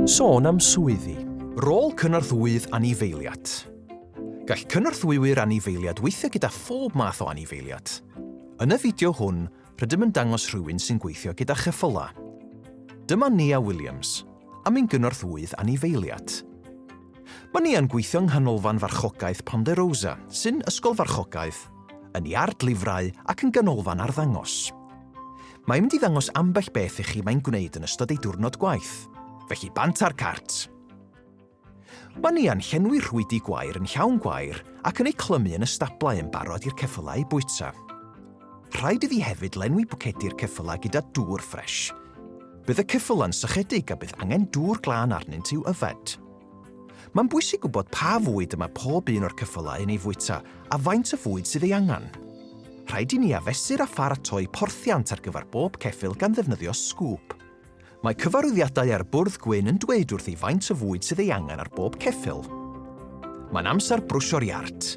Sôn am swyddi. Rôl cynorthwyydd anifeiliad. Gall cynorthwywyr anifeiliad weithio gyda phob math o anifeiliad. Yn y fideo hwn, rydym yn dangos rhywun sy'n gweithio gyda cheffylau. Dyma Nia Williams, am un gynorthwyydd anifeiliad. Mae Nia'n gweithio yng Nghanolfan Farchogaeth Ponderosa, sy'n ysgol farchogaeth, yn iard lifrau ac yn ganolfan arddangos. Mae'n mynd i ddangos ambell beth i chi mae'n gwneud yn ystod ei diwrnod gwaith. Felly bant ar cart! Mae Nia'n llenwi rhwydi gwair yn llawn gwair ac yn eu clymu yn y stablau yn barod i'r ceffylau eu bwyta. Rhaid iddi hefyd lenwi bwcedi'r ceffylau gyda dŵr ffres. Bydd y ceffylau'n sychedig a bydd angen dŵr glân arnynt i'w yfed. Mae'n bwysig gwybod pa fwyd y mae pob un o'r cyffylau yn ei fwyta a faint o fwyd sydd ei angen. Rhaid i ni afesur a pharatoi porthiant ar gyfer bob ceffyl gan ddefnyddio sgŵp. Mae cyfarwyddiadau ar bwrdd gwyn yn dweud wrthi faint o fwyd sydd ei angen ar bob ceffyl. Mae'n amser brwsio'r iard.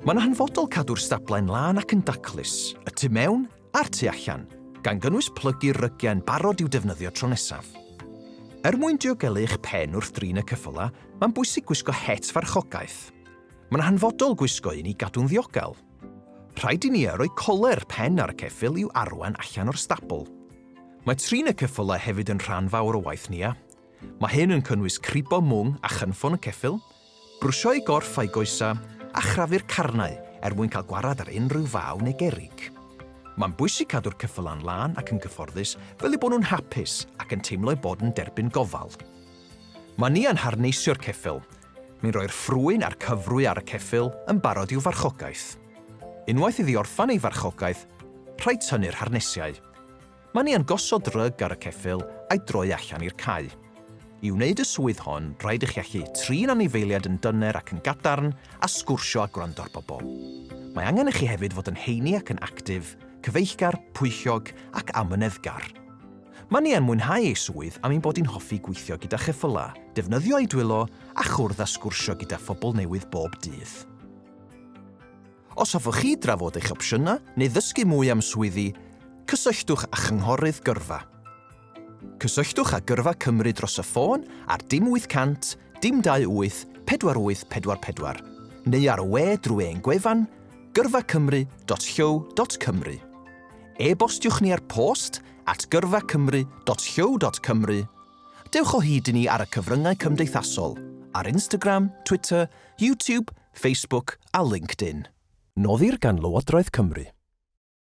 Mae'n hanfodol cadw'r stablau yn lân ac yn daclus, y tu mewn a'r tu allan, gan gynnwys plygu rygiau'n barod i'w defnyddio tro nesaf. Er mwyn diogelu eich pen wrth drin y cyffylau, mae'n bwysig gwisgo het farchogaeth. Mae'n hanfodol gwisgo un i gadw'n ddiogel. Rhaid i ni a roi coler pen ar y ceffyl i'w arwain allan o'r stabl. Mae trin y cyffylau hefyd yn rhan fawr o waith Nia. Mae hyn yn cynnwys cribo mwng a chynffon y ceffyl, Brwsio'u gorff a'u goesau a chrafu'r carnau er mwyn cael gwarad ar unrhyw faw neu gerrig. Mae'n bwysig cadw'r cyffylau yn lân ac yn gyfforddus fel eu bod nhw'n hapus ac yn teimlo eu bod yn derbyn gofal. Mae ni yn harneisio'r ceffyl, ni'n rhoi'r ffrwyn a'r cyfrwy ar y ceffyl yn barod i'w farchogaeth. Unwaith iddi orffen ei farchogaeth, rhaid tynnu'r harnesiau. Mae ni yn gosod rug ar y ceffyl a'i droi allan i'r cae. I wneud y swydd hon, rhaid i chi allu trin anifeiliaid yn dyner ac yn gadarn a sgwrsio a gwrando ar bobl. Mae angen i chi hefyd fod yn heini ac yn actif, cyfeillgar, pwyllog ac amyneddgar. Mae ni yn mwynhau ei swydd am ein bod hi'n hoffi gweithio gyda cheffylau, defnyddio ei dwylo a chwrdd a sgwrsio gyda phobl newydd bob dydd. Os hoffech chi drafod eich opsiynau neu ddysgu mwy am swyddi, cysylltwch â Chynghorydd Gyrfa. Cysylltwch â Gyrfa Cymru dros y ffôn ar dim 800 dim 28 4844 neu ar y we drwy ein gwefan gyrfacymru.llyw.cymru. E-bostiwch ni ar post at gyrfacymru.llyw.cymru. Dewch o hyd i ni ar y cyfryngau cymdeithasol, ar Instagram, Twitter, YouTube Facebook a LinkedIn. Noddir gan Lywodraeth Cymru.